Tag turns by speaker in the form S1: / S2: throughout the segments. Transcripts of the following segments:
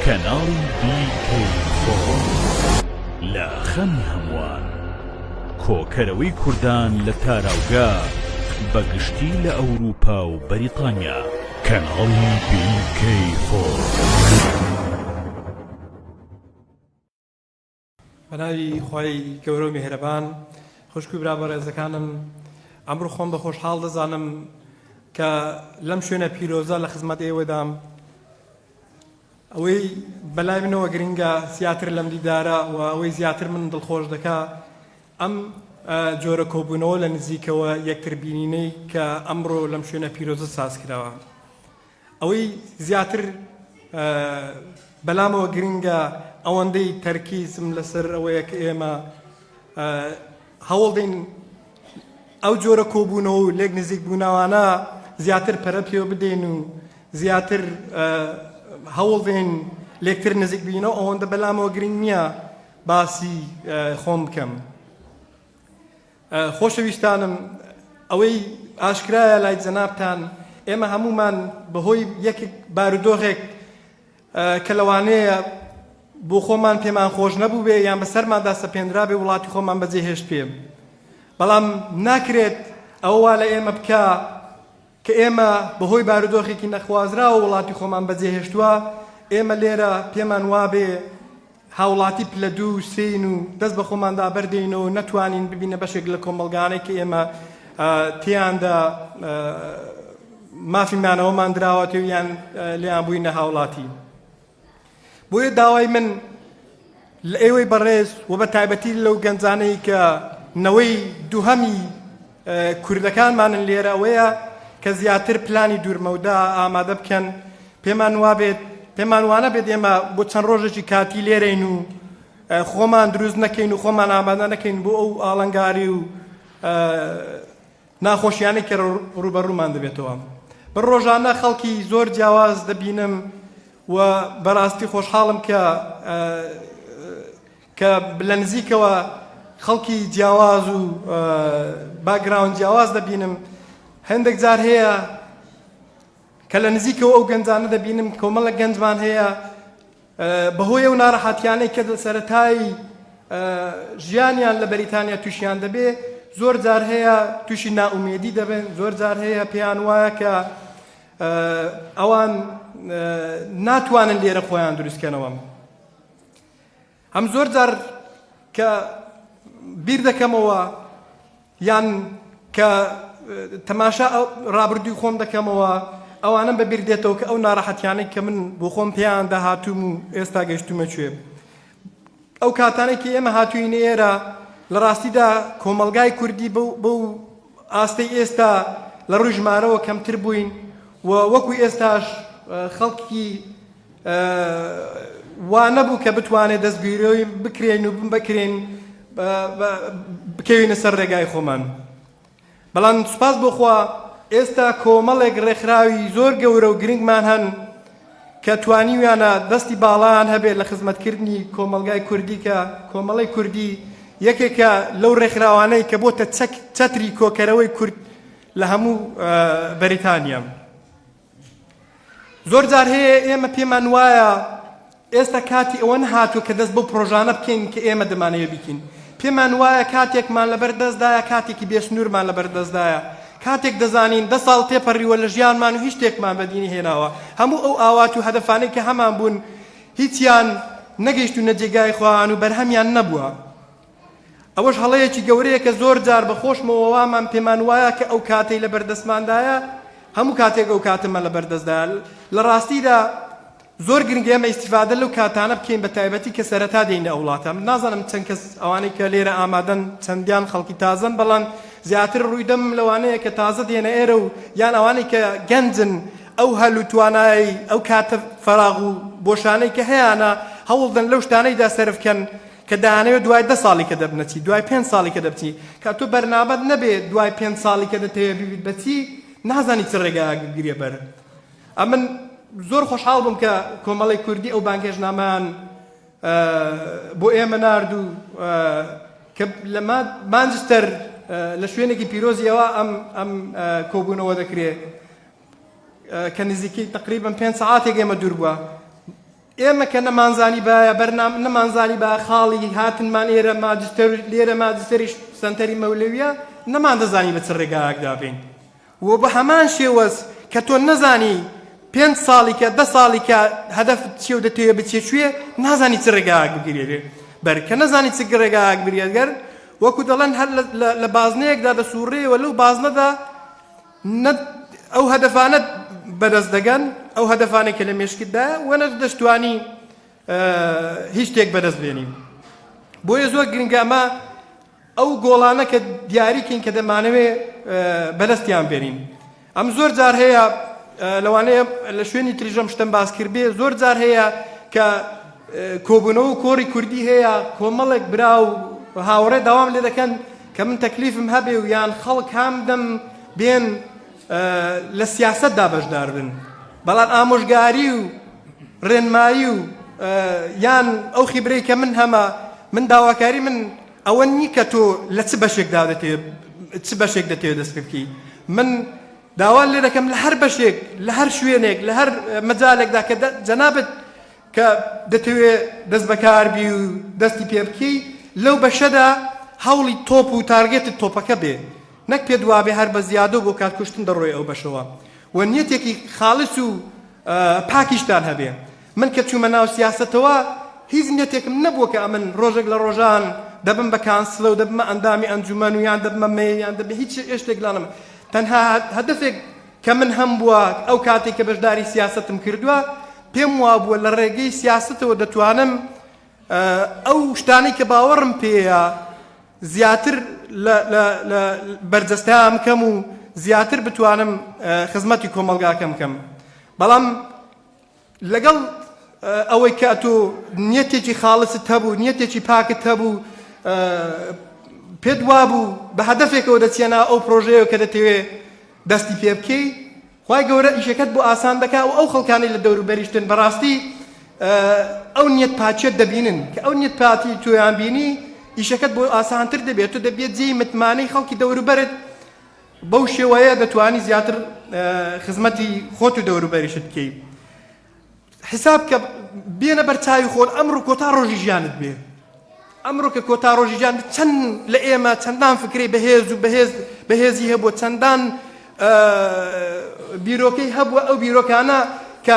S1: کەناڵی بیکەی لە خەمی هەمووان کۆکەرەوەی کوردان لە تاراوگە بە گشتی لە ئەوروپا و بەریتانیا کەناڵی بیکەی فۆر.
S2: بە ناوی خوای گەورە و میهرەبان خوشک و برا بەڕێزەکانم ئەمڕۆ خۆم بە خۆشحاڵ دەزانم کە لەم شوێنە پیرۆزە لە خزمەت ئێوەدام ئەوەی بەلای منەوە گرنگە زیاتر لەم دیدارە و ئەوەی زیاتر من دڵخۆش دەکا ئەم جۆرە کۆبوونەوە لە نزیکەوە یەکتربینینەی کە ئەمڕۆ لەم شوێنە پیرۆزە ساز کراوە ئەوەی زیاتر بەلامەوە گرینگە ئەوەندەی تەرکیزم لەسەر ئەوەیە کە ئێمە هەوڵدەین ئەو جۆرە کۆبوونەوە و لێک نزیک بووناوانە زیاتر پەرە پێ بدەین و زیاتر هەوڵدەین لێکتر نزیک بینەوە ئەوەندە بەلامەوە گرنگ نییە باسی خۆم بکەم. خۆشەویستانم، ئەوەی ئاشکرایە لای جەنابتان، ئێمە هەموومان بەهۆی یەک بارودۆخێک کە لەوانەیە بۆ خۆمان پێمان خۆش نەبووبێ یان بەسەرماندا سەپێنرابێ وڵاتی خۆمان بەجێهێشتبێ، بەڵام ناکرێت ئەوە وا لە ئێمە بکا، کە ئێمە بەهۆی بارودۆخێکی نەخوازراوە وڵاتی خۆمان بەجێهێشتووە، ئێمە لێرە پێمان وابێ هاوڵاتی پلە دوو و سێین و دەست بە خۆماندا بەردێینەوە نەتوانین ببینە بەشێک لە کۆمەڵگانەی کە ئێمە تێیاندا مافی مانەوەمان دراوەتێ و یان لێیان بووینە هاوڵاتی. بۆیە داوای من لە ئێوەی بەڕێز و بە تایبەتی لەو گەنجانەی کە نەوەی دووهەمی کوردەکانمانن لێرە ئەوەیە کە زیاتر پلانی دوورمەودا ئامادە بکەن پێمان وابێت پێمان وانە بێت ئێمە بۆ چەند ڕۆژێکی کاتی لێرەین و خۆمان دروست نەکەین و خۆمان ئامادە نەکەین بۆ ئەو ئاڵنگاری و ناخۆشیانەی کە ڕووبەڕوومان دەبێتەوە. من ڕۆژانە خەڵکی زۆر جیاواز دەبینم و بەراستی خۆشحاڵم کە کە لە نزیکەوە خەڵکی جیاواز و باگراون جیاواز دەبینم هەندێک جار هەیە کە لە نزیکەوە ئەو گەنجانە دەبینم کۆمەڵە گەنجمان هەیە بەهۆی ئەو ناڕەحەتیانەی کە لە سەرەتای ژیانیان لە بەریتانیا تووشیان دەبێ زۆر جار هەیە تووشی نائومێدی دەبن زۆر جار هەیە پێیان وایە کە ئەوان ناتوانن لێرە خۆیان دروستکەنەوە هەم زۆر جار کە بیر دەکەمەوە یان کە تەماشا ڕابردووی خۆم دەکەمەوە، ئەوانەم بە بیر دێتەوە کە ئەو ناڕەحەتیانەی کە من بۆ خۆم پێیاندا هاتووم و ئێستا گەشتوومە کوێ. ئەو کاتانەی کە ئێمە هاتووینە ئێرە، لە ڕاستیدا کۆمەڵگای کوردی بەو ئاستەی ئێستا لە ڕووی ژمارەوە کەمتر بووین و وەکوو ئێستاش خەڵکی وا نەبوو کە بتوانێت دەستگیرۆی بکرێین و بکرێین بکەوینە سەر ڕێگای خۆمان بەڵام سوپاس بۆخوا ئێستا کۆمەڵێک ڕێکخراوی زۆر گەورە و گرنگمان هەن کە توانیویانە دەستی باڵان هەبێت لە خزمەتکردنی کۆمەلگای کوردی کە کۆمەڵی کوردی یەکێکە لەو ڕێکخراوانەی کە بۆتە چەک چەتری کۆکەرەوەی کورد لە هەموو بەریتانیا. زۆر جار هەیە ئێمە پێمان وایە ئێستا کاتی ئەوە نەهاتوو کە دەست بۆ پرۆژانە بکەین کە ئێمە دەمانەوێ بکەین پێمان وایە کاتێکمان لەبەر دەستدایە کاتێکی بێسنوورمان لەبەر دەستدایە کاتێک دەزانین دە ساڵ تێپەڕیوە لە ژیانمان و هیچ شتێکمان بەدینی هێناوە هەموو ئەو ئاوات و هەدەفانەی کە هەمان بوون هیچیان نەگەیشت و نەجێگای خۆیان و بەرهەمیان نەبووە ئەوەش هەڵەیەکی گەورەیە کە زۆر جار بە خۆشمەوە وامان پێمان وایە کە ئەو کاتەی لە بەردەستماندایە هەموو کاتێک ئەو کاتەمە لە بەردەستدا لە ڕاستیدا زۆر گرنگە ئێمە ئیسیفادە لەو کاتانە بکەین بە تایبەتی کە سەرەتا دێنە ئەو وڵاتە من نازانم چەند کەس ئەوانەی کە لێرە ئامادەن چەندیان خەڵکی تازن بەڵام زیاتر ڕوویدەم لەوانەیە کە تازە دێنە ئێرە و یان ئەوانەی کە گەنجن ئەو هەل و توانایی ئەو کاتە فراغ و بۆشانەی کە هەیەە هەوڵدەن لەو شتانەیدا سەرفکەن کە دەیانەوێت دوای دە ساڵی کە دەبنە چی، دوای پێنج ساڵی کە دەبچی، کە تۆ بەرنامەت نەبێ دوای پێنج ساڵی کە دەتەوێ ببیت بە چی، نازانی چ ڕێگایەک بگریە بەر. ئەمن زۆر خۆشحاڵ بووم کە کۆمەڵی کوردی ئەو بانگهێشتنامەیان بۆ ئێمە نارد و کە لە مانجستەر لە شوێنێکی پیرۆزی ئەوە ئەم ئەم کۆبوونەوە دەکرێت کە نزیکەی تقریبم پێنج سعاتێک ئێمە دوور بووە ئێمە کە نەمانزانیبایە بەرنامە، نەمانزانیبایە خاڵی هاتنمان ئێرە ماجستەر، لێرە ماجستەریش سەنتەری مەولەوییە، نەماندەزانی بە چ ڕێگایەکدا بین و بە هەمان شێوەز کە تۆ نەزانی پێنج ساڵیکە، دە ساڵیکە هەدەفت چییە و دەتەوێ بچیە کوێ، نازانی چ ڕێگایەک بگیرێ بەر، کە نەزانی چ ڕێگایەک بگیرێ گەر، وەکوو دەڵێن هەر لە بازنەیەکدا دەسووڕێ و لەو بازنەدا، نە ئەو هەدەفانەت بەدەست دەگەن، ئەو هەدەفانەی کە لە مێشکتدایە و نەش دەشتوانی هیچ شتێک بەدەست بێنی. بۆیە زۆر گرنگە ئەمە ئەو گۆڵانە کە دیاریکەین کە دەمانەوێ بەدەستیان بێنین. ئەم زۆر جار هەیە لەوانەیە لە شوێنی تریژەم شتم باس کرد بێ زۆر جار هەیە کە کۆبوونەوە کۆڕی کوردی هەیە کۆمەڵێک برا و هاوڕێ داوام لێ دەکەن کە من تەکلیفم هەبێ و یان خەڵک هام دەم بێن لە سیاسەتدا بەشدار بن بەڵام ئامۆژگاری و ڕێنمایی و یان ئەو خیبرەی کە من هەمە من داواکاری من ئەوە نی کە تۆ لە چ بەشێک دادەتێ چ بەشێک دەتێت دەست بکی من داوا لێ دەکەم لە هەر بەشێک لە هەر شوێنێک لە هەر مەجالێکدا کە جەنابەت کە دەتەوێ دەست بەکار بی و دەستی پێ بکەی لەو بەشەدا هەوڵی تۆپ و تارگێتت تۆپەکە بێ نەک پێت وابێ هەر بە زیادە و بۆ کات کوشتن دەڕۆی ئەو بەشەوە و نیەتێکی خاڵس و پاکیشتان هەبێ من کە چوومە ناو سیاستەوە هیچ نیەتێکم نەبووە کە ئەمن ڕۆژێک لە ڕۆژان دەبم بە کانسلە و دەبمە ئەندامی ئەنجومەن و یان دەبمە مێ یان دەبێ هیچ ئێشتێک لانم تەنها هەدفێک کە من هەمبووە ئەو کاتێک کە بەشداری سیاسەتم کردووە پێم وابووە لە ڕێگەی سیاستەوە دەتوانم ئەو شتانی کە باوەڕم پێەیە زیاتر بەرجەستەیان کەم و زیاتر بتوانم خزمەتی کۆمەلگاکەم کەم بەڵام لەگەڵ ئەوەی کە ئەتۆ نیەتێکی خاڵست هەبوو، نیەتێکی پاکت هەبوو، پێت وابوو بە هەدەفێکەوە دەچیەنا ئەو پرۆژەیەوە کە دەتەوێ دەستی پێ بکەی، خوای گەورە ئیشەکەت بۆ ئاسان دەکا و ئەو خەڵکانەی لە دەوروبەریشتن بەڕاستی ئەو نیەت پاکیەت دەبینن، کە ئەو نیەت پاکی تۆیان بینی ئیشەکەت بۆ ئاسانتر دەبێت، تۆ دەبیت جێی متمانەی خەڵکی دەوروبەرت بەو شێوەیە دەتوانی زیاتر خزمەتی خۆت و دەوروبەریشت بکەی حساب کە بێنە بەرچاوی خۆن ئەمڕۆ کۆتا ڕۆژی ژیانت بێ ئەمڕۆ کە کۆتا ڕۆژی ژیان چەند لە ئێمە چەندان فکری بەهێز و بەهێز بەهێزی هەبووە چەندان بیرۆکەی هەبووە ئەو بیرۆکانە کە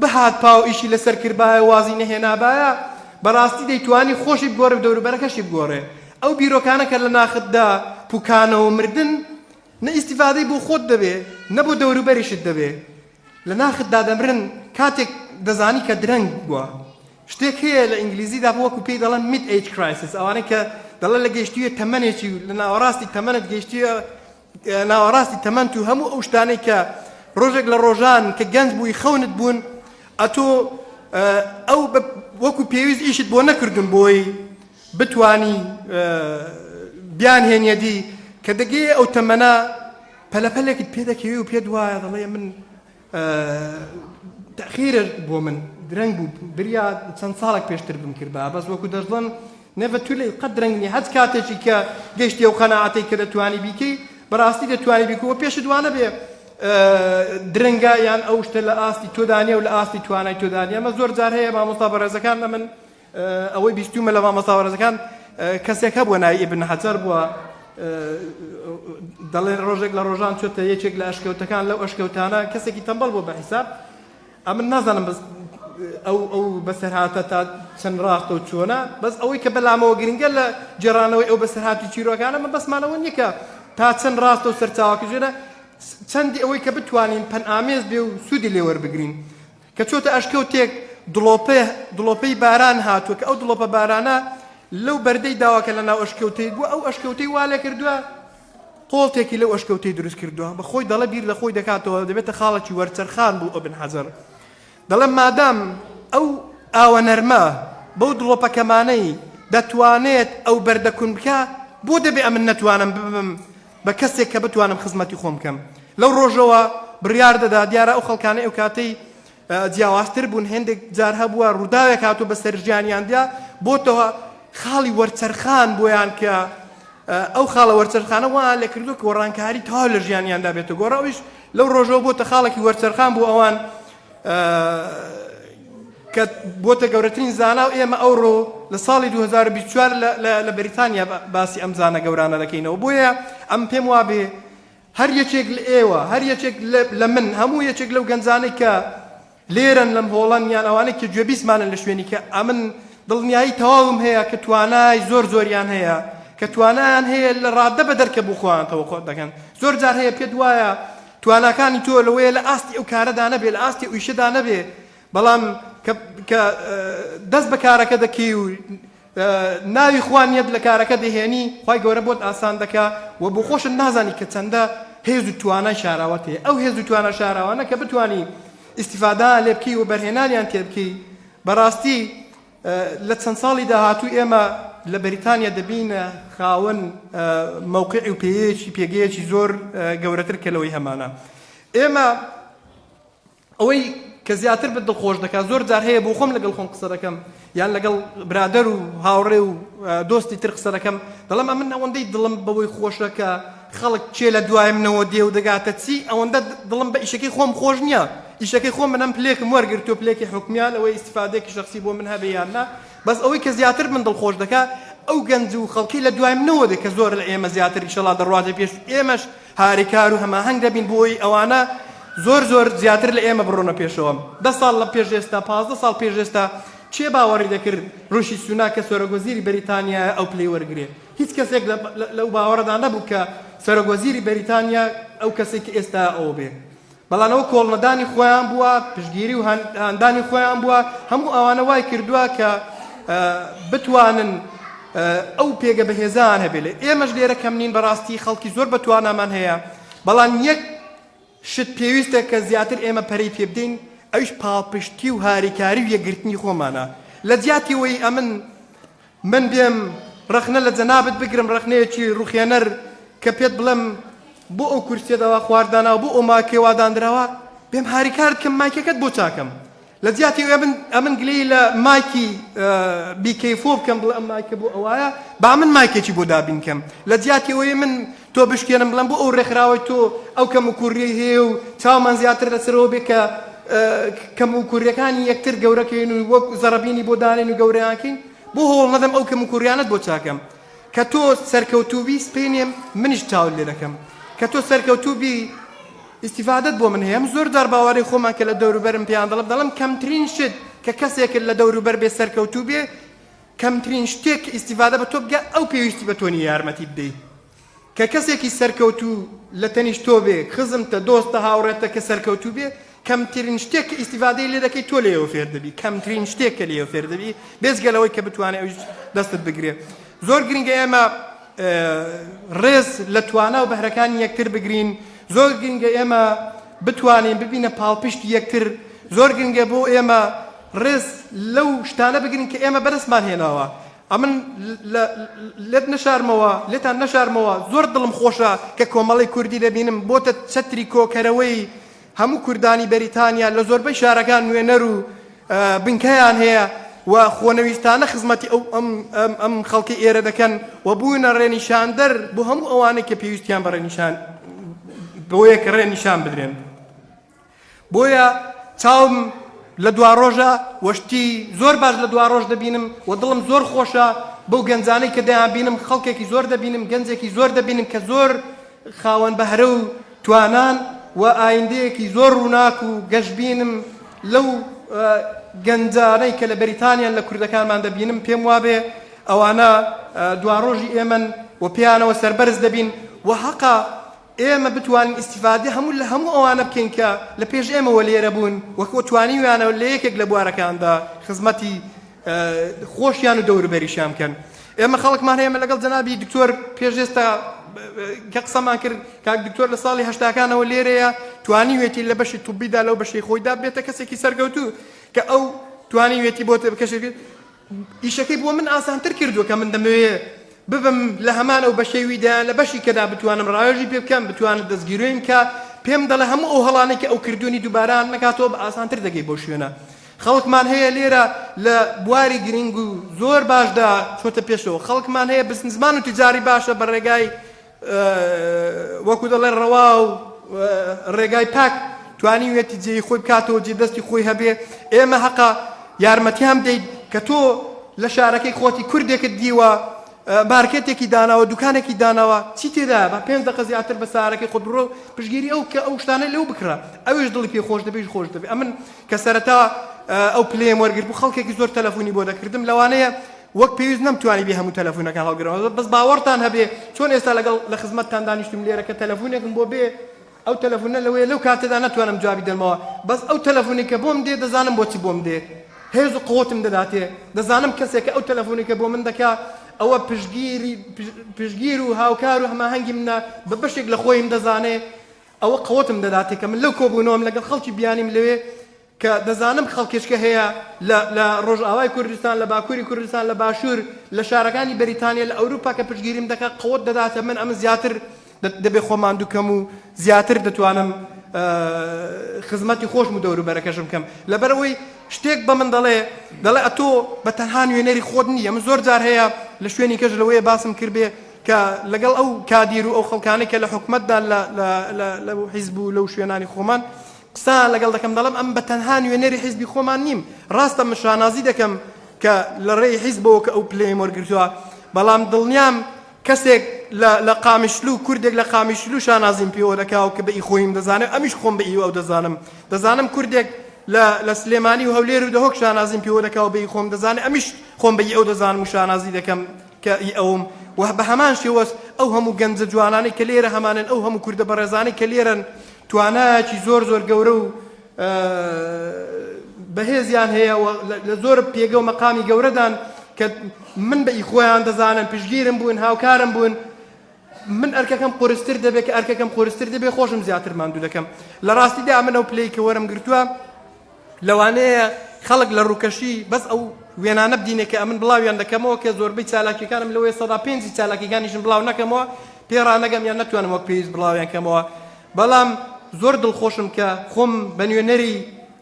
S2: بهات پاو ئیشی لەسەر کردبایە وازی نەهێنابایە بەڕاستی دەیتوانی خۆشی بگۆڕێ دەوروبەرەکەشی بگۆڕێ ئەو بیرۆکانە کە لە ناختدا پوکانەوە مردن، نە ئیستیفادەی بۆ خۆت دەبێ، نە بۆ دەوروبەریشت دەبێ. لە ناختدا دەمرن کاتێک دەزانی کە درەنگ بووە. شتێک هەیە لە ئینگلیزیدا وەکو پێی دەڵێن Mid-Age Crisis، ئەوانەی کە دەڵێن لە گەیشتوویە تەمەنێکی و لە ناوەڕاستی تەمەنت گەیشتوویە، ناوەڕاستی تەمەنت و هەموو ئەو شتانەی کە ڕۆژێک لە ڕۆژان کە گەنج بووی خەونت بوون ئەتۆ ئەو وەکو پێویست ئیشت بۆ نەکردن بۆی بتانی بیان هێنیەدی کە دەگەی ئەو تەمەە پەلەپەلێکت پێ دەکەوی و پێت وایە دەڵێ من تەئخیرە بۆ من درەنگ بوو بریا چەند ساڵێک پێشتر بمکردبا بەس وەکو دەشڵن نەڤە تو لەی قەت درەنگ نیە هەچ کاتێکی کە گەشتی ئەو قەناعەتەی کە دەتوانی بیکەی بەڕاستی دەتوانی بیکە وە پێشت وانە بێ درەنگە یان ئەو شتە لە ئاستی تۆدانە و لە ئاستی توانای تۆدانە ئەمە زۆر جار هەیە مامۆستا بەڕێزەکان لە من ئەوەی بیستومە لە مامۆستا بەڕێزەکان کەسێک هەبووە ناوی ئیبن حەجەر بووە دەڵێن ڕۆژێک لە ڕۆژان چۆتە یەکێک لە ئەشکەوتەکان لەو ئەشکەوتانە کەسێکی تەمبەڵ بۆ بە حیساب ئەمن نازانم بەس ئەو ئەو بەسەرهاتە تا چەند ڕاستە و چۆنە بەس ئەوەی کە بەلامەوە گرنگە لە جێرانەوەی ئەو بەسەرهاتی چیرۆکانە من بەسمانەوە نیکە تا چەند ڕاستە و سەرچاوکە ژێرە چەندی ئەوەی کە بتوانین پەن ئامێز بێ و سوودی لێوەربگرین کە چۆتە ئەشکەوتێک دڵۆپێ دڵۆپەی باران هاتووە کە ئەو دڵۆپە بارانە لەو بەردەی داوە کە لە ناو ئەشکەوتەی بووە ئەو ئەشکەوتەی وا لێ کردووە قۆڵتێکی لەو ئەشکەوتەی دروست کردووە بە خۆی دەڵە بیر لە خۆی دەکاتەوە دەبێتە خاڵێکی وەرچەرخان بوو ئەبن حەزەر دەڵێ مادام ئەو ئاوە نەرمە بەو دڵۆپەکەمانەی دەتوانێت ئەو بەردەکون بکە بۆ دەبێ ئەمن نەتوانم ببم بە کەسێک کە بتوانم خزمەتی خۆم بکەم لەو ڕۆژەوە بڕیار دەدا دیارە ئەو خەڵکانەی ئەو کاتەی جیاوازتر بوون هێندێک جار هەبووە ڕووداوێک هاتوو بە سەرژیانیاندیا بۆتەوە خاڵی وەرچەرخان بۆیان کە ئەو خاڵە وەرچەرخانە وا لە کردو کۆڕانکاری تاو لە ژیانیاندا بێتە گۆڕەویش لەو ڕۆژەوە بۆتە خاڵێکی وەرچەرخان بۆ ئەوان کە بۆتە گەورەترین زانا و ئێمە ئەوڕۆ لە ساڵی 2024 لە بەریتانیا باسی ئەم زانە گەورانە دەکەینەوە بۆیە ئەم پێم وابێ هەر یەکێک لە ئێوە هەر یەکێک لە من هەموو یەکێک لەو گەنجانەی کە لێرن لەم هۆڵەن یان ئەوانەی کە گوێبیسمانن لە شوێنی کە ئەمن دڵنیایی تەواوم هەیە کە توانای زۆر زۆریان هەیە کە توانایان هەیە لە ڕاددە بە دەرکە بخۆیانەوە خۆ دەکەن زۆر جار هەیە پێت وایە تواناکانی تۆ لەوەیە لە ئاستی ئەو کارەدا نەبێ، لە ئاستی ئەو ئیشەدا نەبێ، بەڵام کە کە دەست بە کارەکە دەکەی و ناوی خوا نیەت لە کارەکە دەهێنی، خوای گەورە بۆت ئاسان دەکا و بۆخۆشت نازانی کە چەندە هێز و توانای شاراوەت هەیە. ئەو هێز و توانا شاراوانە کە بتوانی ئیستیفادەیان لێ بکەی و بەرهێنانیان تێ بکەی، بەڕاستی. لە چەند ساڵی داهاتوو ئێمە لە بەریتانیا دەبینە خاوەن مەوقعی و پێیەیەکی پێگەیەکی زۆر گەورەتر کە لەوەی هەمانە ئێمە ئەوەی کە زیاتر بە دڵخۆش دەکات زۆر جار هەیە بۆ خۆم لەگەڵ خۆم قسە دەکەم یان لەگەڵ برادەر و هاوڕێ و دۆستی تر قسە دەکەم دەڵێم ئەمن ئەوەندەی دڵم بەوەی خۆشەکە خەڵک کێ لە دوای منەوە دێ و دەگاتە چی، ئەوەندە دڵم بە ئیشەکەی خۆم خۆش نییە، ئیشەکەی خۆم منم پلێکم وەرگرتووە، پلێکی حکومییە، لەوەی ئیستیفادەیەکی شەخسی بۆ من هەبێ یان نا، بەس ئەوەی کە زیاتر من دڵخۆش دەکا ئەو گەنج و خەڵکەی لە دوای منەوە دێ کە زۆر لە ئێمە زیاتر ئیشەڵا دەڕواتە پێش و ئێمەش هاریکار و هەماهەنگ دەبین بۆی ئەوانە زۆر زۆر زیاتر لە ئێمە بڕۆنە پێشەوە. دە ساڵ لە پێش ئێستا، پازدە ساڵ پێش ئێستا کێ باوەڕی دەکرد ڕیشی سوناک کە سەرۆکوەزیری بەریتانیایە ئەو پلەی وەرگرێ؟ هیچ کەسێک لەو باوەڕەدا نەبوو کە سەرۆک وەزیری بەریتانیا ئەو کەسەی کە ئێستا ئەو بێ بەڵام ئەوە کۆڵنەدانی خۆیان بووە پشگیری و هەندانی خۆیان بووە هەموو ئەوانە وای کردووە کە بتوانن ئەو پێگە بەهێزان هەبێت لە ئێمەش لێرە کەم نین بەڕاستی خەڵکی زۆر بەتوانامان هەیە بەڵام یەک شت پێویستە کە زیاتر ئێمە پەری پێ بدەین ئەوش پاڵپشتی و هاریکاری و یەگرتنی خۆمانە لە جیاتی وی ئەمن من بێم ڕەخنە لە جەنابت بگرم ڕەخنەیەکی ڕوخێنەر کە پێت بڵێم بۆ ئەو کورسیەت ئەوا خوار داناوە بۆ ئەو ماکێ وا دانراوە بێم هاریکارت کەم مایکەکەت بۆ چاکەم لە جیاتی ئەمن ئەمن گلەی لە مایکی بیکەیفۆ بکەم بڵێ ئەم مایکە بۆ ئەوایە با من مایکێکی بۆ دابین کەم لە جیاتی ئەوەی من تۆ بشکێنم بڵێم بۆ ئەو ڕێکخراوەی تۆ ئەو کەم و کووریەی هەیە و چاومان زیاتر لەسەرەوە بێ کە کەم و کووریەکانی یەکتر گەورەکەین و وەک زەڕەبینی بۆ دانێن و گەورەیانکەین بۆ هەوڵ نەدەم ئەو کەم و کووریانەت بۆ چاکەم کە تۆ سەرکەوتوبی سپینێم منیش چاول لێ دەکەم کە تۆ سەرکەوتوبی ئیسیفادت بۆ من هەیە من زۆر جار باوەڕی خۆمان کە لە دەوروبەرم پێیان دەڵم دەڵم کەمترین شت کە کەسێکت لە دەوروبەر بێ سەرکەوتوو بێ کەمترین شتێک کە ئیستیفادە بە تۆ بکا ئەو پێویستی بە تۆ نیە یارمەتیت بدەیت کە کەسێکی سەرکەوتوو لە تەنیشت تۆ بێ خزمتە دۆستە هاوڕێتە کە سەرکەوتوو بێ کەمترین شتێک کە ئیستیفادەی لێ دەکەی تۆ لێەوە فێر دەبی کەمترین شتێک کە لێەوە فێر دەبی بێزگە لەوەی کە بتوانێت ئەوش دەستت بگرێ زۆر گرنگە ئێمە ڕێز لە توانا و بەهرەکانی یەکتر بگرین زۆر گرنگە ئێمە بتوانین ببینە پاڵپشت یەکتر زۆر گرنگە بۆ ئێمە ڕێز لەو شتانە بگرن کە ئێمە بەدەستمان هێناوە. ئەمن لێت نەشارمەوە، لێتان نەشارمەوە، زۆر دڵم خۆشە کە کۆمەڵەی کوردی دەبینم بۆتە چەتری کۆکەرەوەی هەموو کوردانی بەریتانیا، لە زۆربەی شارەکان نوێنەر و بنکەیان هەیە و خۆنەویستانە خزمەتی ئەو ئەم خەڵکەی ئێرە دەکەن و بوونە ڕێنیشاندەر بۆ هەموو ئەوانەی کە پێویستیان بە ڕێنیشان بۆیە کە ڕێنیشان بدرێن. بۆیە چاوم لە دواڕۆژە و شتی زۆر باش لە دواڕۆژ دەبینم و دڵم زۆر خۆشە بەو گەنجانەی کە دەیانبینم خەڵکێکی زۆر دەبینم گەنجێکی زۆر دەبینم کە زۆر خاوەن بەهرە و توانان و ئایندەیەکی زۆر ڕووناک و گەشبینم لەو گەنجانەی کە لە بەریتانیان لە کوردەکانمان دەبینم پێم وابێ ئەوانە دواڕۆژی ئێمەن و پێیانەوە سەربەرز دەبین و هەقە ئێمە بتوانین ئیستیفادەی هەموو لە هەموو ئەوانە بکەین کە لە پێش ئێمەوە لێرە بوون و کۆ توانیویانە لە یەکێک لە بوارەکاندا خزمەتی خۆشیان و دەوروبەریشیان بکەن ئێمە خەڵکمان ئێمە لەگەڵ جەنابی دکتۆر پێشێستا کە قسەمان کرد کاک دکتۆر لە ساڵی هەشتاکانەوە لێرەیە توانیوێتی لە بەشی توبیدا لەو بەشی خۆیدا بێتە کەسێکی سەرگەوتوو کە ئەو توانیوێتی بۆ کەشێک ئیشەکەی بۆ من ئاسانتر کردووە کە من دەمەوێ ببم لە هەمان ئەو بەشەی ویدا لە بەشی کەدا بتوانم ڕاوێژی پێ بکەم بتوانم دەستگیرۆیم بکە پێم دەڵێ هەموو ئەو هەڵانەی کە ئەو کردوونی دووبارە نەکاتەوە بە ئاسانتر دەگەی بۆ شوێنە خەڵکمان هەیە لێرە لە بواری گرنگ و زۆر باشدا چۆتە پێشەوە خەڵکمان هەیە بزنزمان و تجاری باشە بە ڕێگای وەکو دەڵێن ڕەوا و ڕێگای پاک توانیوێتی جێی خۆی بکاتەوە جێ دەستی خۆی هەبێ ئێمە هەقە یارمەتیان بدەیت کە تۆ لە شارەکەی خۆتی کوردێکت دیوە مارکێتێکی داناوە دوکانێکی داناوە چی تێدا بە پێنج دقە زیاتر بە سارەکەی خۆت بڕۆ پشگیری ئەو کە ئەو شتانە لەو بکڕە ئەوش دڵی پێ خۆش دەبێژ خۆش دەبێ ئەمن کە سەرەتا ئەو پلێم وەرگرت بوو خەڵکێکی زۆر تەلەفۆنی بۆ دەکردم لەوانەیە وەک پێویست نەمتوانیبێ هەموو تەلەفونەکان هەڵگرمەوە بەس باوەڕتان هەبێ چۆن ئێستا لەگەڵ لە خزمەتتان دانیشتوم لێرە کە تەلەفونێکم بۆ بێ ئەو تەلەفونە لەوەیە لەو کاتەدا ناتوانم جوابی دەمەوە بەس ئەو تەلەفونی کە بۆم دێ دەزانم بۆچی بۆم دێ هێز و قوتم دەداتێ دەزانم کەسێک ئەو تەلەفونی کە بۆ من دەکا ئەوە پشگیری پشگیر و هاوکار و هەماهەنگی منە بە بەشێک لە خۆیم دەزانێ ئەوە قوتم دەداتێ کە من لەو کۆبوونەوەم لەگەڵ خەڵکی بیانیم لەوێ کە دەزانم خەڵکێچکە هەیە لە لە ڕۆژئاوای کوردستان، لە باکووری کوردستان، لە باشوور، لە شارەکانی بەریتانیا، لە ئەوروپا کە پشتگیریم دەکات، قوت دەداتە من، ئەمن زیاتر دەبێ خۆم ماندوو کەم و زیاتر دەتوانم خزمەتی خۆشم و دەوروبەرەکەشم کەم. لەبەر ئەوەی شتێک بە من دەڵێ، دەڵێ ئەتۆ بە تەنها نوێنەری خۆت نییە. من زۆر جار هەیە لە شوێنی کەش لەوەیە باسم کردبێ کە لەگەڵ ئەو کادیر و ئەو خەڵکانەی کە لە حکومەتدا لە لە لە لەو حیزب و لەو شوێنانی خۆمان قسەیان لەگەڵ دەکەم دەڵێم ئەم بە تەنها نوێنەری حیزبی خۆمان نیم ڕاستە من شانازی دەکەم کە لە ڕێی حیزبەوە کە ئەو پلەیەم وەرگرتووە بەڵام دڵنیام کەسێک لە قامیشلو و کوردێک لە قامیشلو شانازیم پێوە دەکاو کە بە ئی خۆیم دەزانێت ئەمیش خۆم بە ئی ئەو دەزانم دەزانم کوردێک لە سلێمانی و هەولێر و دەهۆک شانازیم پێوە دەکاو بە ئی خۆم دەزانێت ئەمیش خۆم بە ئی ئەو دەزانم و شانازی دەکەم کە ئی ئەوم و بە هەمان شێوەش ئەو هەموو گەنجە جوانانەی کە لێرە هەمانن ئەو هەموو کوردە بەڕێزانەی کە لێرەن توانایەکی زۆر زۆر گەورە و بەهێزیان هەیە و لە زۆر پێگە و مەقامی گەورەدان کە من بە ئیخۆیان دەزانن پشگیرم بوون هاوکارم بوون من ئەرکەکەم قرستر دەبێت کە ئەرکەکەم قرستر دەبێت خۆشم زیاتر ماندوو دەکەم لە ڕاستیدا من ئەو پلەی کە وەرم گرتووە لەوانەیە خەڵک لە ڕووکەشی بەس ئەو وێنانە بدینێ کە ئەمن بڵاویان دەکەمەوە کە زۆربەی چالاکیەکانم لەوەیە سەدا پێنجی چالاکیەکانیشم بڵاو نەکەمەوە پێ ڕانەگەم یان نەتوانم وەک پێویست بڵاویان کەمەوە بەڵام زۆر دڵخۆشم کە خۆم بە نوێنەری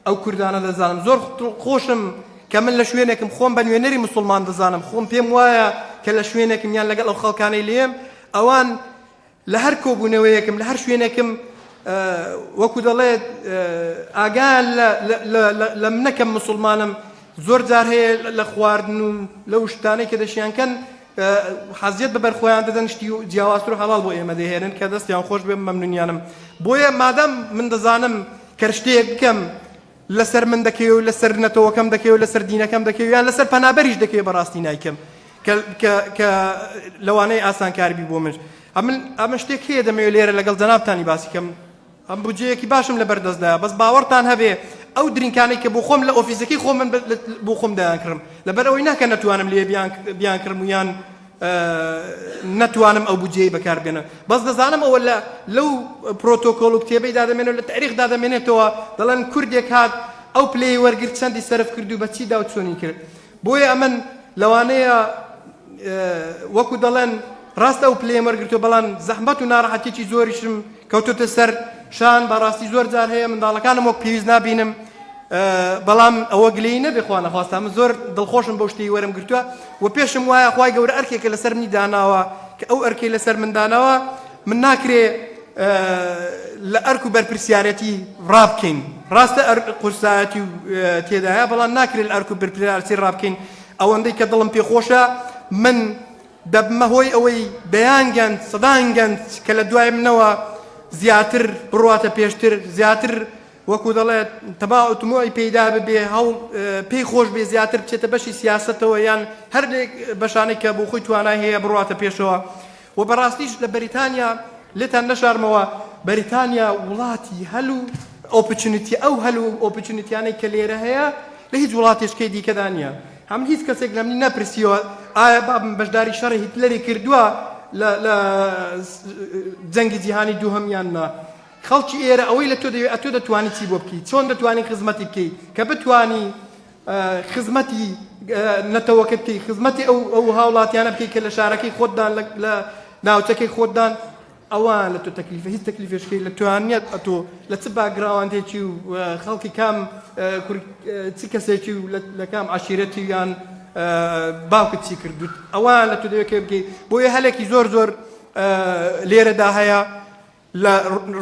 S2: ئەو کوردانە دەزانم زۆر خۆشم کە من لە شوێنێکم خۆم بە نوێنەری مسلمان دەزانم خۆم پێم وایە کە لە شوێنێکم یان لەگەڵ ئەو خەڵکانەی لێم ئەوان لە هەر کۆبوونەوەیەکم، لە هەر شوێنێکم وەکو دەڵێت ئاگایان لە منە کە مسوڵمانم، زۆر جار هەیە لە خواردن و لەو شتانەی کە دەشیان کەن حەزیەت بە بەرخۆیان دەدەن شتی و جیاوازتر و حەڵاڵ بۆ ئێمە دەهێنن کە دەستیان خۆش بێ مەمنونیانم بۆیە مادام من دەزانم کەر شتێک بکەم لەسەر من دەکەوێ و لەسەر نەتەوەکەم دەکەوێ و لەسەر دینەکەم دەکەوێ یان لەسەر پەنابەریش دەکەوێ بەڕاستی نایکەم کە لەوانەیە ئاسانکاربی بۆ من ئەمە شتێک هەیە دەمەوێت لێرە لەگەڵ جەنابتانی باسی کەم ئەم بجەیەکی باشم لە بەردەستدا بەس باوەڕتان هەبێ ئەو درینکانەی کە بۆ خۆم لە ئۆفیسەکەی خۆ من بۆ خۆم دەیانکڕم لەبەر ئەوەی ناکە نەتوانم لێ بیان کڕم و یان نەتوانم ئەو بودجەیەی بەکار بێنم بەس دەزانم ئەوە لە لەو پرۆتۆکۆڵ و کتێبەی دادەمێنێت لە تاریخ دادەمێنێتەوە دەڵێن کوردێک هات ئەو پلەی وەرگرت چەندی سەرف کرد و بە چیدا و چۆنی کرد بۆیە ئەمن لەوانەیە وەکو دەڵێن ڕاستە ئەو پلەیە وەرگرتو بەڵام زەحمەت و ناڕەحەتێکی زۆریشم کەوتۆتە سەر شان بەڕاستی زۆر جار هەیە منداڵەکانم وەک پێویست نابینم بەڵام ئەوە گلەی نەبێ خوا نەخواستە من زۆر دڵخۆشم بەو شتەی وەرم گرتووە و پێشم وایە خوای گەورە ئەرکێکە لەسەر منی داناوە کە ئەو ئەرکەی لەسەر من داناوە من ناکرێ لە ئەرک و بەرپرسیارەتی ڕابکەین ڕاستە قورسایەتی و تێدایە بەڵام ناکرێت ئەرک و برپرارسی ڕابکەین ئەوەندەی کە دڵم پێخۆشە من دەبمە هۆی ئەوەی دەیان گەنج، سەدان گەنج کە لە دوای منەوە زیاتر بڕواتە پێشتر، زیاتر وەکو دەڵێت تماع و تموعی پێیدا ببێ، هەوڵ پێی خۆش بێ زیاتر بچێتە بەشی سیاسەتەوە یان هەر لە بەشانەی کە بۆ خۆی توانای هەیە بڕواتە پێشەوە و بەڕاستیش لە بەریتانیا لێتان نەشارمەوە بەریتانیا وڵاتی هەل و ئۆپچونیتی ئەو هەل و ئۆپچونیتیانەی کە لێرە هەیە لە هیچ وڵاتێشکەی دیکەدا نییە. هەم هیچ کەسێک لەمنی نەپرسیوە ئایا بابم بەشداری شەڕی هیتلەری کردوە لە لە جەنگی جیهانی دووهەم یان نا خەڵکی ئێرە ئەوەی لە تۆ دەوێت ئەتۆ دەتوانی چی بۆ بکەی چۆن دەتوانی خزمەتی بکەی کە بتانی خزمەتی نەتەوەکە بکەی خزمەتی ئەو ئەو هاوڵاتیانە بکەی کە لە شارەکەی خۆتدان لە ناوچەکەی خۆتدان ئەوە لە تۆ تەکلیفە هیچ تەکلیفێشکەی لە تۆیان نیەت ئەتۆ لە چ باگراوەندێکی و خەڵکی کام چ کەسێکی و لە کام عشیرەتی یان باوکت چی کردوت ئەوە لە تۆ دەوێت بگەی بۆیە هەلێکی زۆر زۆر لێرەدا هەیە لە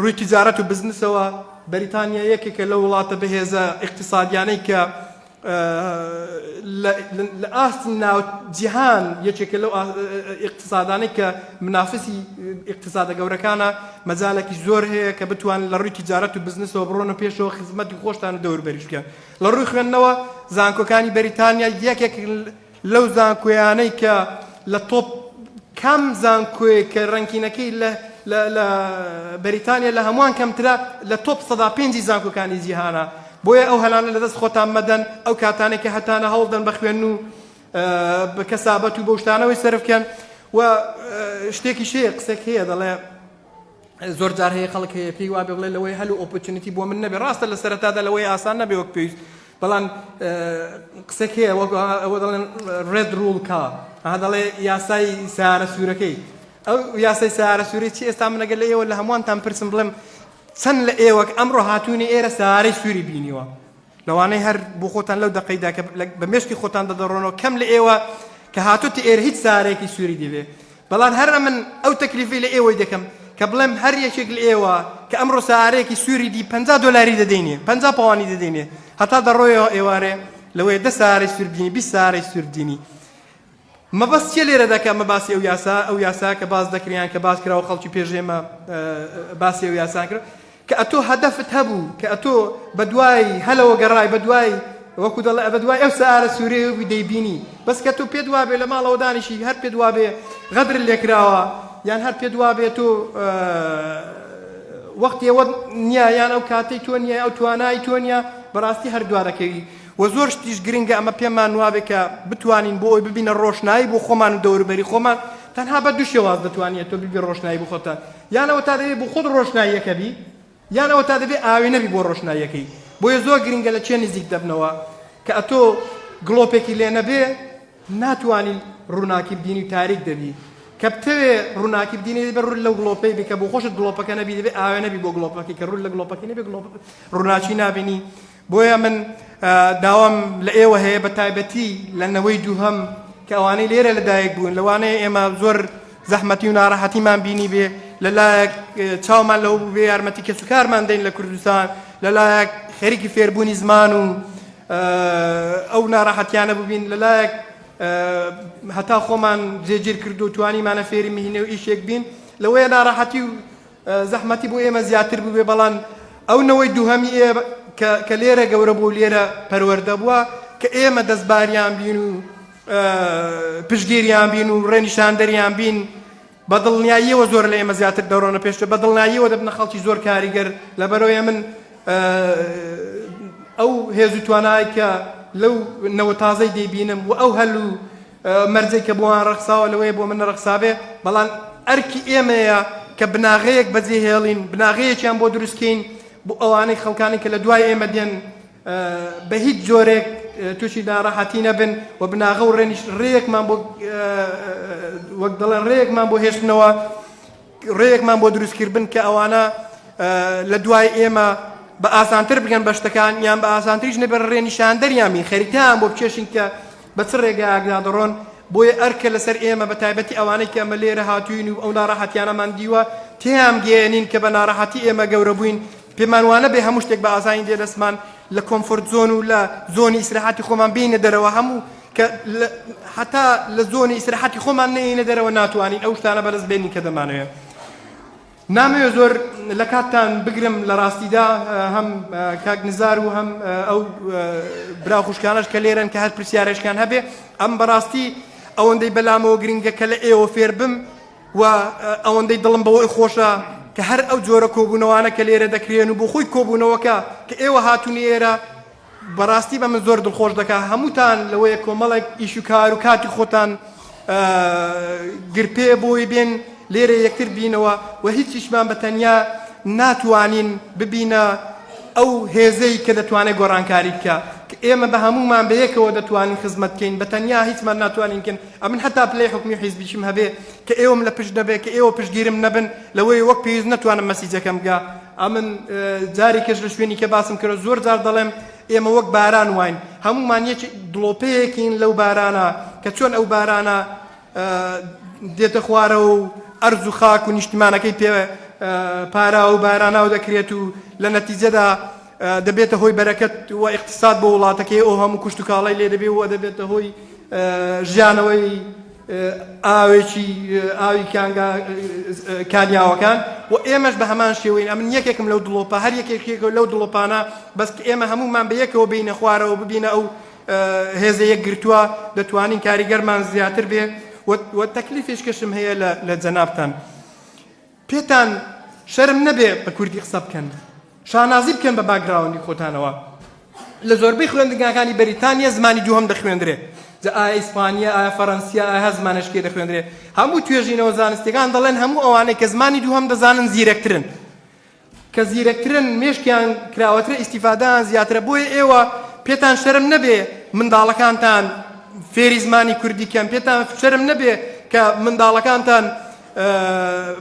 S2: ڕووی تجارەت و بزنسەوە بەریتانیا یەکێکە لە وڵاتە بەهێزە اقتصادیانەی کە لە ئاست ناو جیهان یەکێکە لەو ئیقتسادانەی کە منافسی ئیقتسادە گەورەکانە مەجالێکی زۆر هەیە کە بتوان لە ڕووی تجارەت و بزنسەوە بڕۆنە پێشەوە خزمەتی خۆشتان دەور بەریش بکەن لە ڕووی خوێندنەوە زانکۆکانی بەریتانیا یەکێک لەو زانکۆیانەی کە لە تۆپ کام زانکۆیەک کە ڕەنکینەکەی لە لە بەریتانیا لە هەمووان کەمترە لە تۆپ سەدا پێنجی زانکۆکانی جیهانە بۆیە ئەو هەلانە لەدەست خۆتان مەدەن ئەو کاتانێک کە هەتانە هەوڵدەن بە خوێن و بە کەسابەت و بەشتانەوەی سەرفکەن و شتێکی شەیە قسەک هەیە دەڵێ زۆر جار هەیە خەڵک هەیە پێی وابێ بڵێ لەوەی هەل و ئۆپۆرچونیتی بۆ من نەبێ ڕاستە لە سەرەتادا لەوەی ئاسان نەبێ وەک پێویست بەڵام قسەک هەیە وەک ئەوە دەڵێن ڕێد ڕوڵ کا ها دەڵێ یاسای سارە سوورەکەی ئەو یاسای سارە سووری چی ئێستا منەگە لە ئێوە لە هەمووانتان پرسم بڵێم چەند لە ئێوەک ئەمڕۆ هاتوونی ئێرە سارەی سووری بینیوە لەوانەیە هەر بۆ خۆتان لەو دەقەیدا کە بە مێشکی خۆتان دەدەڕۆنەوە کەم لە ئێوە کە هاتوتە ئێرە هیچ سارێکی سووری دەبێ بەڵام هەر من ئەو تەکلیفی لە ئێوەی دەکەم کە بڵێم هەر یەکێک لە ئێوە کە ئەمڕۆ سارێکی سووری دی پ دلاری دەدەینێ پ پاوانی دەدەینێ هەتا دەڕۆیەوە ئێوارێ لەوەیە دە سارەی سووردینی بی سارەی سووردینی مەبەست چیە لێرەدا کە ئەمە باسی ئەو یاسا ئەو یاسا کە باس دەکرێ یان کە باس کراوە خەڵکی پێش ئێمە باسی ئەو یاسان کرد کە ئەتۆ هەدەفت هەبوو کە ئەتۆ بە دوای هەلەوە گەڕای بە دوای وەکو دەڵێ ئەبە دوای ئەو سارە سوورەیە بووی دەیبینی بەس کە تۆ پێت وابێ لە ماڵەوە دانیشی هەر پێت وابێ غەدر لێکراوە یان هەر پێت وابێ تۆ وەختێوە نییە یان ئەو کاتەی تۆ نییە ئەو توانای تۆ نییە بەڕاستی هەر دوارەکەوی وە زۆر شتیش گرنگە ئەمە پێمان وابێ کە بتوانین بۆ ئەوی ببینە ڕۆشنایی بۆ خۆمان و دەوروبەری خۆمان تەنها بە دوو شێواز دەتوانیت تۆ ببی ڕۆشنایی بۆ خۆتە یانەوە تا دەبێت بۆ خۆت ڕۆشناییەکە بی یانەوە تا دەبێت ئاوێ نەبی بۆ ڕۆشناییەکەی بۆیە زۆر گرنگە لە چێ نزیک دەبنەوە کە ئەتۆ گڵۆپێکی لێ نەبێ ناتوانی ڕووناکی بدینی و تاریک دەبی کە بتەوێ ڕووناکی بدینی دەبێت ڕوون لەو گڵۆپەی بکە بۆ خۆشت گڵۆپەکە نەبی دەبێت ئاوێ نەبی بۆ گڵۆپەکەی کە ڕوون لە گڵۆپەکەی نەبێ گڵۆپ ڕووناچی نابینی بۆیە من داوام لە ئێوە هەیە بە تایبەتی لە نەوەی دووهەم کە ئەوانەی لێرە لەدایک بوون لەوانەیە ئێمە زۆر زەحمەتی و ناڕەحەتیمان بینی بێ لەلایەک چاومان لەو بێ یارمەتی کەس و کارمان دەین لە کوردستان لەلایەک خەریکی فێربوونی زمان و ئەو ناڕەحەتیانە ببین لەلایەک هەتا خۆمان جێگیر کردو توانیمانە فێری مهینە و ئیشێک بین لەوەیە ناڕەحەتی و زەحمەتی بۆ ئێمە زیاتر بووبێ بەڵام ئەو نەوەی دووهەمی ئێ کە کە لێرە گەورە بوو لێرە پەروەردە بووە کە ئێمە دەستباریان بین و پشگیریان بین و ڕێنیشاندەریان بین بە دڵنیاییەوە زۆر لە ئێمە زیاتر دەڕۆنە پێشتە بە دڵناییەوە دەبنە خەڵکی زۆر کاریگەر لەبەرەوەی من ئەو هێز و توانای کە لەو نەوە تازەی دەیبینم و ئەو هەل و مەرجێک کە بۆیان ڕەخساوە لەوەیە بۆ من نەڕەخسابێ، بەڵام ئەرکی ئێمەیە کە بناغەیەک بەجێهێڵین، بناغەیەکیان بۆ دروستکەین بۆ ئەوانەی خەڵکانی کە لە دوای ئێمە دێن بە هیچ جۆرێک تووشی ناڕەحەتی نەبن و بناغە و ڕێنیش ڕێیەکمان بۆ وەک دەڵێن ڕێیەکمان بۆ هێشتنەوە ڕێیەکمان بۆ دروستکردن کە ئەوانە لە دوای ئێمە بە ئاسانتر بگەن بە شتەکان یان بە ئاسانتریش نەبێت ڕێنیشاندەریان بین خەریکان بۆ بکێشین کە بە چ ڕێگایەکدا دەڕۆن، بۆیە ئەرکە لەسەر ئێمە بە تایبەتی ئەوانەی کە ئەمە لێرە هاتووین و ئەو ناڕەحەتیانەمان دیوە تێیان گەیەنین کە بە ناڕەحەتی ئێمە گەورە بووین پێمان وانەبێ هەموو شتێک بە ئاسانی دێ دەستمان لە کۆمفۆرت زۆن و لە زۆنی ئیسراحەتی خۆمان بێینە دەرەوە هەموو کە هەتا لە زۆنی ئیسراحەتی خۆمان نەیەینە دەرەوە ناتوانین ئەو شتانە بەدەست بێنین کە دەمانەوێ. نامەوێ زۆر لە کاتتان بگرم لە ڕاستیدا هەم کاک نزار و هەم ئەو برا خوشکانەش کە لێرن کە هەر پرسیارێشکان هەبێ ئەم بەڕاستی ئەوەندەی بەلامەوە گرنگە کە لە ئێوە فێر بم و ئەوەندەی دڵم بەوەی خۆشە کە هەر ئەو جۆرە کۆبوونەوانە کە لێرە دەکرێن و بۆ خۆی کۆبوونەوەکە کە ئێوە هاتونی ئێرە بەڕاستی بە من زۆر دڵخۆش دەکا هەمووتان لەوەیە کۆمەڵێک ئیش و کار و کاتی خۆتان گرپێ بۆی بێن لێرە یەکتر بینەوە و هیچیشمان بە تەنیا ناتوانین ببینە ئەو هێزەی کە دەتوانێت گۆڕانکاری بکە کە ئێمە بە هەمومان بە یەکەوە دەتوانین خزمەت بکەین بە تەنیا هیچمان ناتوانینکن ئەمن هەتا پلەی حکومی حیزبیشم هەبێ کە ئێوەم لە پشت نەبێ کە ئێوە پشگیرم نەبن لەوەی وەک پێویست نتوانم مەسیجەکەم بگە ئەمن جاری کەش لە شوێنی کە باسم کردە زۆر جار دەڵێم ئێمە وەک باران واین هەمومان یەک دڵۆپەیەکین لەو بارانە کە چۆن ئەو بارانە دێتە خوارە و ئەرز و خاک و نیشتمانەکەی پێ پارا و باراناو دەکرێت و لە نەتیجەدا دەبێتە هۆی بەرەکەت و اقتصاد بۆ وڵاتەکەی ئەو هەموو کوشت و کاڵای لێ دەبێ و دەبێتە هۆی ژیانەوەی ئاوێکی ئاوی کانگا کانیاوەکان و ئێمەش بە هەمان شێوەین ئەمن یەکێکم لەو دڵۆپە هەر یەکێکێکەوە لەو دڵۆپانە بەست ئێمە هەمومان بە یەکەوە بینە خوارەوە ببینە ئەو هێزە یەک گرتووە دەتوانین کاریگەرمان زیاتر بێ و تەکلیفێشکەشم هەیە لە جەنابتان. پێتان شەرم نەبێ بە کوردی قسە بکەن شانازی بکەن بە باکگراوندی خۆتانەوە لە زۆربەی خوێندنگاکانی بەریتانیا زمانی دووهەم دەخوێندرێ جا ئایا ئیسپانیا ئایا فەرەنسیا ئایا زمانەشکێ دەخوێندرێ هەموو توێژینەوە زانستیەکان دەڵێن هەموو ئەوانەی کە زمانی دووهەم دەزانن زیرەکترن کە زیرەکترن مێشکیان کراوەترە ئیسیفادان زیاترە بۆیە ئێوە پێتان شەرم نەبێ منداڵەکانتان فێری زمانی کوردی کەم پێتان شەرم نەبێ کە منداڵەکانتان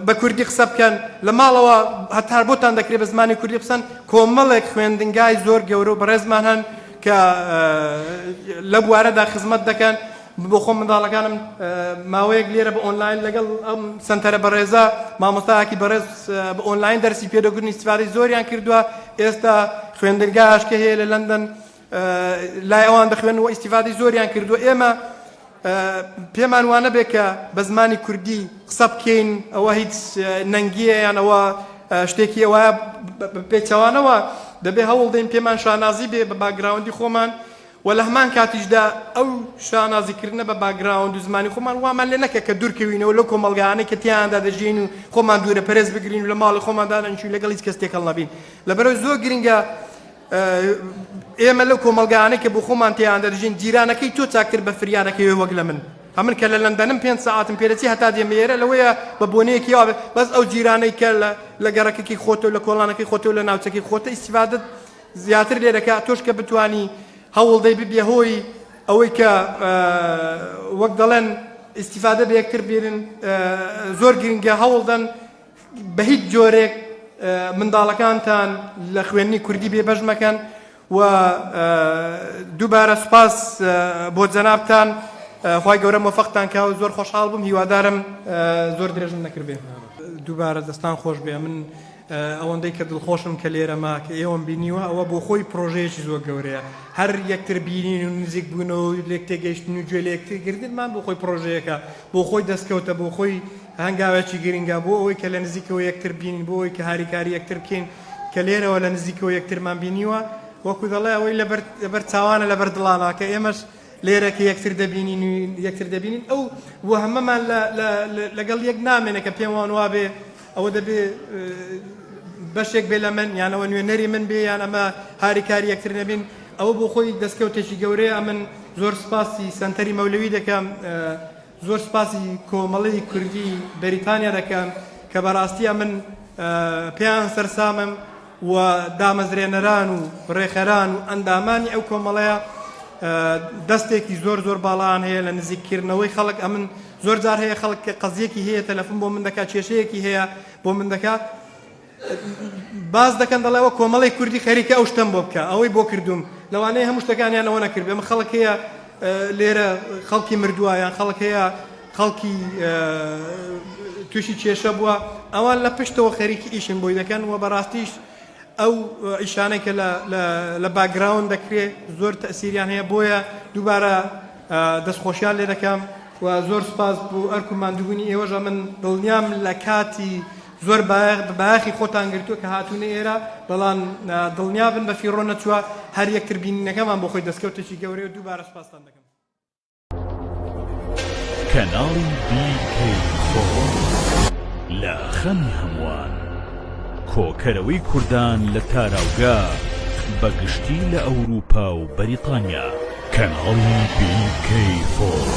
S2: بە کوردی قسە بکەن لە ماڵەوە هەتا بۆتان دەکرێت بە زمانی کوردی قسەن کۆمەڵێک خوێندنگای زۆر گەورە و بەڕێزمان هەن کە لە بوارەدا خزمەت دەکەن بۆ خۆم منداڵەکانم ماوەیەک لێرە بە ئۆنلاین لەگەڵ ئەم سنتەرە بەڕێزە مامۆستاکی بەڕێز بە ئۆنلاین دەرسی پێدەگرنی سیفادی زۆریان کردووە ئێستا خوێندنگاش کە هەیە لە لەندەن لای ئەوان دەخوێنن و ئیستیفادەی زۆریان کردووە ئێمە پێمان وانە بێ کە بە زمانی کوردی قسە بکەین ئەوە هیچ نەنگیە یان ئەوە شتێکی ئەوە پێچەوانەوە دەبێ هەوڵ دەین پێمان شانازی بێ بە باگراوندی خۆمان و لە هەمان کاتیشدا ئەو شانازیکردنە بە باگراوند و زمانی خۆمان وامان لێ نەکە کە دوورکەوینەوە لەو کۆمەلگانەی کە تیاندا دەژین و خۆمان دوورە پەرێز بگرین و لە ماڵی خۆماندانەنشین لەگەڵ هیچ کەس تێکەڵ نەبین لەبەرەوە زۆر گرنگە ئێمە لەو کۆمەڵگایانەی کە بۆ خۆمان تێیان دەژین جیرانەکەی تۆ چاکتر بە فریانەکەوێ وەک لە من ئەمن کە لە لەندەنم پێنج ساعتم پێرەچی هەتا دێمێرە لەوەیە بە بۆنەیەکی وابێت بەس ئەو جیرانەی کە لە گەڕەکەکی خۆتۆ لە کۆڵانەکەی خۆتۆ لە ناوچەکەی خۆتە ئیسیفادت زیاتر لێ دەکە تۆش کە بتانی هەوڵدەی ببێ هۆی ئەوەی کە وەک دەڵێن ئیسیفادە بە یەکتر بێنن زۆر گرنگە هەوڵدەن بە هیچ جۆرێک منداڵەکانتان لە خوێندنی کوردی بێبەش مەکەن و دووبارە سوپاس بۆ جەنابتان خی گەورە مۆفەقتان کا و زۆر خۆشحاڵ بووم هیوادارم زۆر درێژم نەکردێ دووبارە دەستان خۆش بێ من ئەوەندەی کە دڵخۆشم کە لێرەما کە ئێوەم بینیوە ئەوە بۆ خۆی پرۆژەیەکی زۆر گەورەیە هەر یەکتر بینین و نزیک بوونەوە لێک تێگەیشتن و گوێ لە یەکترگردنمان بۆ خۆی پرۆژەیەەکە بۆ خۆی دەستکەوتە بۆ خۆی هەنگاوێکی گرنگە بۆ ئەوەی کە لە نزیکەوە یەکتر ببینین، بۆ ئەوەی کە هاریکاری یەکتر بکەین، کە لێرەوە لە نزیکەوە یەکترمان بینیوە، وەکو دەڵێ ئەوەی لەبەر لەبەر چاوانە لەبەر دڵانە، کە ئێمەش لێرە کە یەکتر دەبینین و یەکتر دەبینین ئەو وەهمەمان لە لە لەگەڵ یەک نامێنێ کە پێم وان وابێ ئەوە دەبێ بەشێک بێ لە من یان ئەوە نوێنەری من بێ یان ئەمە هاریکاری یەکتر نەبین ئەوە بۆ خۆی دەستکەوتێکی گەورەیە ئەمن زۆر سپاسی سەنتەری مەولەوی دەکەم زۆر سپاسی کۆمەڵی کوردی بەریتانیا دەکەم کە بەراستی ئەمن پێیان سەرسامم و دامەزرێنەران و ڕێخەران و ئەندامانی ئەو کۆمەڵەیە دەستێکی زۆر زۆر باڵان هەیە لە نزیککردنەوەی خەڵک ئەمن زۆر جار هەیە خەڵک کە قەزیەکی هەیە تەلەفون بۆ من دەکات کێشەیەکی هەیە بۆ من دەکات باس دەکەن دەڵێ ئەوە کۆمەڵی کوردی خەریکە ئەو شتەم بۆ بکە ئەوەی بۆ کردوم لەوانەیە هەموو شتەکانیان ئەوە نەکرد بێمە خەڵک هەیە لێرە خەڵکی مردووە یان خەڵک هەیە خەڵکی تووشی کێشە بووە ئەوان لە پشتەوە خەریکی ئیشن بۆی دەکەن و بەڕاستیش ئەو ئیشانەی کە لە باگراون دەکرێت زۆر تەسیریان هەیە بۆیە دووبارە دەستخۆشیان لێ دەکەم و زۆر سپاس بۆ ئەرک و مادوبوونی ئێوەژە من دڵنیام لە کاتی زۆر بایەخی خۆتان گرتووە کە هاتوونە ئێرە، بەڵام دڵنیا بن بە فیڕۆ نەچووە، هەر یەکتر بینینەکەمان بۆ خۆی دەستکەوتێکی گەورەیە و دووبارە سوپاستان دەکەم.
S1: کەناڵی BK Photos لە خەمی هەمووان کۆکەرەوەی کوردان لە تاراوگە بە گشتی لە ئەوروپا و بەریتانیا کەناڵی BK Photos.